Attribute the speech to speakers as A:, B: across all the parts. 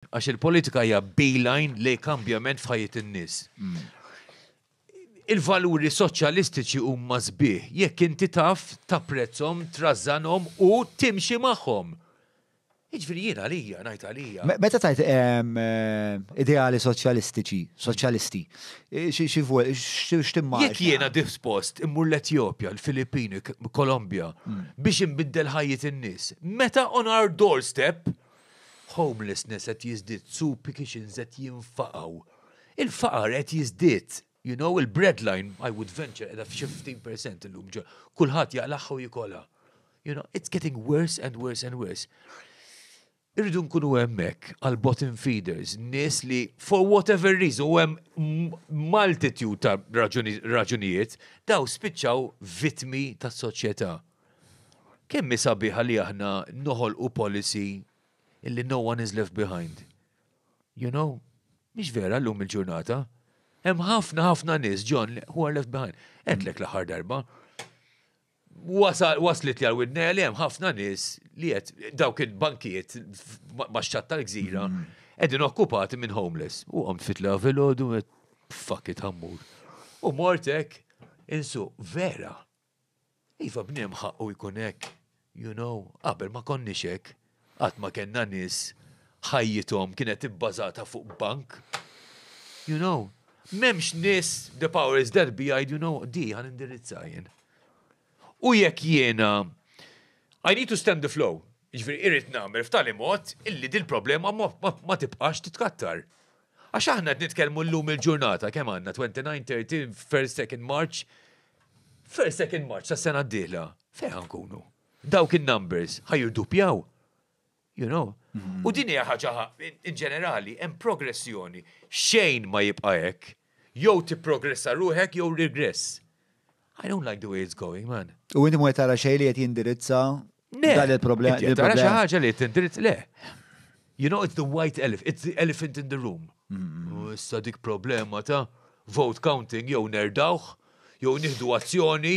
A: Għax il-politika hija beeline lejn kambjament f'ħajjet in-nies. Il-valuri soċjalistiċi huma sbieħ jekk inti taf tapprezzhom, trażżanhom u timxi magħhom. Jiġifieri jien għalija, ngħid għalija. Me- Meta tajt em, eh, ideali soċjalistiċi, soċjalisti, eh, xi xi vu- xi- x'timmaġna? Jekk jiena dispost immur l-Etjopja, l-Filippini, K- Kolombja, biex inbiddel ħajjet in-nies, meta on our doorstep Homelessness qed jiżdied, soup kitchens qed jinfaqgħu. Il-faqar qed jiżdied. You know, il-breadline, I would venture, qiegħda f'xi 15 percent illum. Kulħadd jaqlagħha u jikolha. You know, it's getting worse and worse and worse. Irridu nkunu hemmhekk għal bottom feeders, nies li for whatever reason u hemm multitude ta' raġunijiet daw spiċċaw vitmi tas-soċjetà. Kemm hi sabiħa li aħna noħolqu policy illi no one is left behind. You know? Mhix vera llum il-ġurnata. Hemm ħafna ħafna nies John who are left behind. Għedlek l-aħħar darba. Waslet li għal-widnejja li hemm ħafna nies li qed dawk il-bankiet max-xatt tal-gżira qegħdin okkupati minn homeless. U għamt fitla fil-ħodu fuck it ħammur. U mortek insu vera. Iva bniem ħaqqu jkun hekk, you know, qabel ma konniex hekk, qatt ma kellna nies ħajjithom kienet ibbażata fuq bank, you know. M'hemmx nies the power is that be jgħidu no di ħa nindirizza jien. U jekk jiena I need to stem the flow, jiġifieri irrid nagħmel f'tali mod illi dil-problema ma tibqax titkattar. Għax aħna qed nitkellmu llum il-ġurnata kemm għandna 29, 30, first, second March, First, second March sa sena d-dieħla, fejn ħankunu? Dawk in-numbers ħajirduppjaw. You know? U din hija ħaġa in ġenerali hemm progressjoni. Xejn ma jibqa' hekk. Jew tipprogressa ruħek jew regress. I don't like the way it's going, man. U inti ma tara xejn li qed jindirizza Dan il-problema. Tara xi ħaġa li tindirizz le. You know, it's the white elephant, it's the elephant in the room. Mm-hmm. Issa dik problema ta' vote counting jew nerdawh, jew nieħdu azzjoni,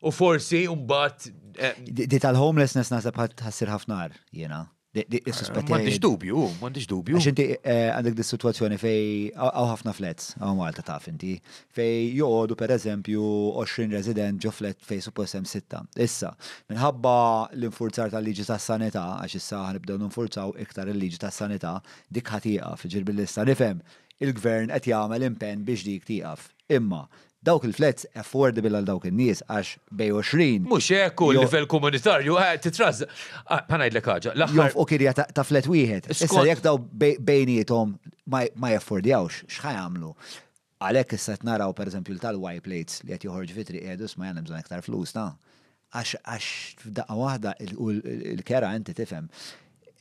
A: u forsi mbagħad. Eh, di tal-homelessness naħseb ħassir ħafna jiena. M'għandix dubju, m'għandix dubju. Għax inti eh, għandek dis situazzjoni fej għaw ħafna flats, għaw Malta taf inti, fej joqogħdu per eżempju 20 resident ġo flat fej suppost hemm sitta. Issa, minħabba l-infurzar tal-liġi tas-sanità, għax issa ħanibdew ninfurzaw iktar il-liġi tas-sanità, dik ħatieqaf, ġirbi l-issa nifhem il-gvern qed jagħmel impenn biex dik tieqaf. Imma, dawk il-flats affordable għal dawk in-nies għax bejn 20. Mhux hekk u l-livell komunitarju qed titrażżaq. Ħa ngħidlek ħaġa, l-aħħar. Jonfqu kirja ta' flat wieħed. Issa jekk dawn bejniethom ma jaffordjawx, x'ħa jagħmlu? Għalhekk issa qed naraw pereżempju l-tal-Y-plates li qed joħorġu fi triq jgħidu isma' jien hemm bżonn iktar flus ta'. Għax, għax f'daqqa waħda, u l-kera inti tifhem,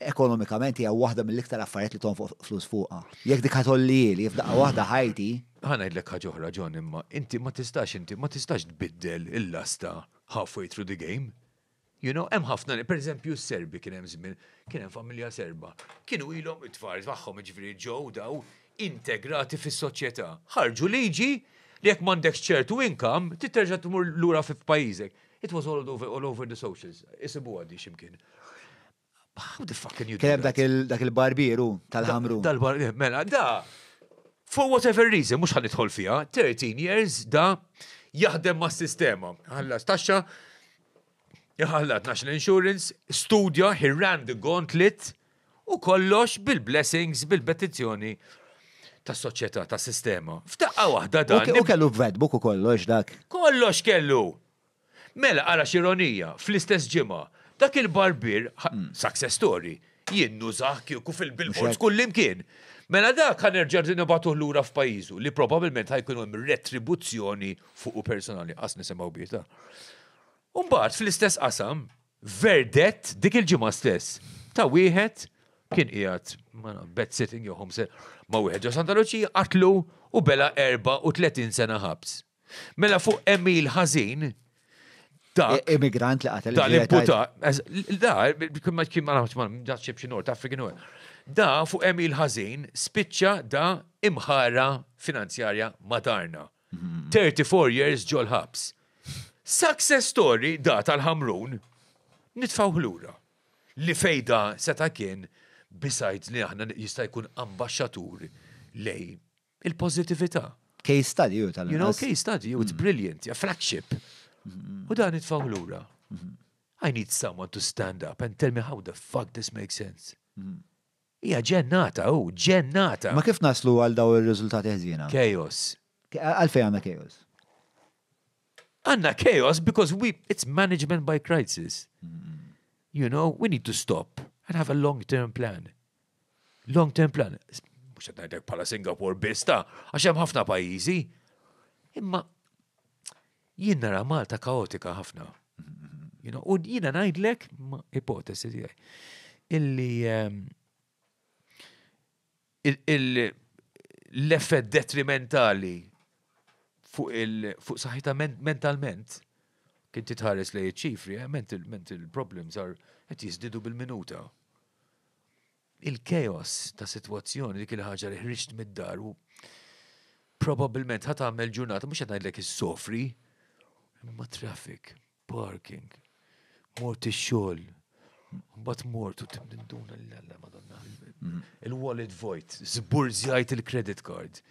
A: ekonomikament hija waħda mill-iktar affarijiet li tonfoq flus fuqha. Jekk dik ħatollieli f'daqqa waħda ħajti. Ħa ngħidlek ħaġa oħra John imma, inti ma tistax inti ma tistax tbiddel il-lasta halfway through the game. You know, hemm ħafna, per eżempju s-Serbi kien hemm żmien, kien hemm familja Serba, kienu ilhom it-tfal tagħhom jiġifieri ġew daw integrati fis-soċjetà. Ħarġu liġi li jekk m'għandekx ċertu income, trid terġa' tmur lura fi f'pajjiżek. It was all over all over the socials. Isibuha din xi mkien. How the fuck can you do that? Kien hemm dak il-barbier hu tal-ħamrun. Tal-barbier, mela, da, for whatever reason, mhux ħa nidħol fiha, 13 years da jaħdem mas-sistema. Ħallas taxxa, Iħallat National Insurance, studja, he ran the gauntlet, u kollox bil-blessings, bil-petizzjoni tas soċjetà tas sistema. F'daqqa waħda dan. U kellu vetbuk u kollox dak. Kollox kellu. Mela ara xironija, fl-istess ġimgħa, dak il-barbier, hmm. success story, jinnu zaħ kieku fil-bilbors kullimkien. Mela dak ħan nerġa' nibatuh lura f'pajjiżu li probabbilment ħajkun hemm retribuzzjoni fuq u personali qas nisimgħu bieta. Umbagħad fl-istess qasam, verdett dik il-ġimgħa stess ta' wieħed kien qiegħed bed sitting jew homse ma' wieħed ġo Santa Luċija qatlu u bela 34 sena ħabs. Mela fuq Emil Ħażin dak. E- Immigrant li qatel. Da l-imputa. Da, kien ma kien ma nafx ma nafx xi North African u Da fuq Emil Ħażin spiċċa da imħara finanzjarja madarna. 34 years ġol-ħabs. Success story da tal-ħamrun nitfaw ħlura. Li fejda seta' kien besides li aħna jista' jkun ambasċatur lej il-pożitività. Case study u tal You know, case study, it's mm. brilliant, a flagship. Mm-hmm. U dan nitfaw ħlura. Mm-hmm. I need someone to stand up and tell me how the fuck this makes sense. Mm-hmm. Hija ġennata, hu, ġennata! Ma kif naslu għal dawn ir-riżultati ħżiena? Chaos. Għalfejn għandna chaos? Għandna chaos because we, it's management by crisis. You know, we need to stop and have a long-term plan. Long-term plan. Mux qed ngħidlek bħala Singapore biss ta' għax hemm ħafna pajjiżi. Imma Jien nara Malta kaotika ħafna. U jiena ngħidlek, ipotesi tiegħi, illi ehm, l-effett detrimentali fuq il-fuq saħħita mentalment kien titħares li ċifri, eh, mental, mental problems are qed jiżdidu bil-minuta. il-chaos ta' sitwazzjoni dik il-ħaġa li ħriġt mid-dar u probabbilment ħa tagħmel ġurnata mhux qed ngħidlek issofri, imma traffic, parking, mort ix-xogħol, mbagħad mort u tinduna lil Alla Madonna. Mm. Il-wallet void, żburzjajt il-credit card.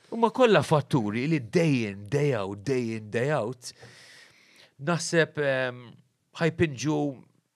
A: Huma kollha fatturi li day in, day out, day in, day out. Naħseb ehm, ħajpinġu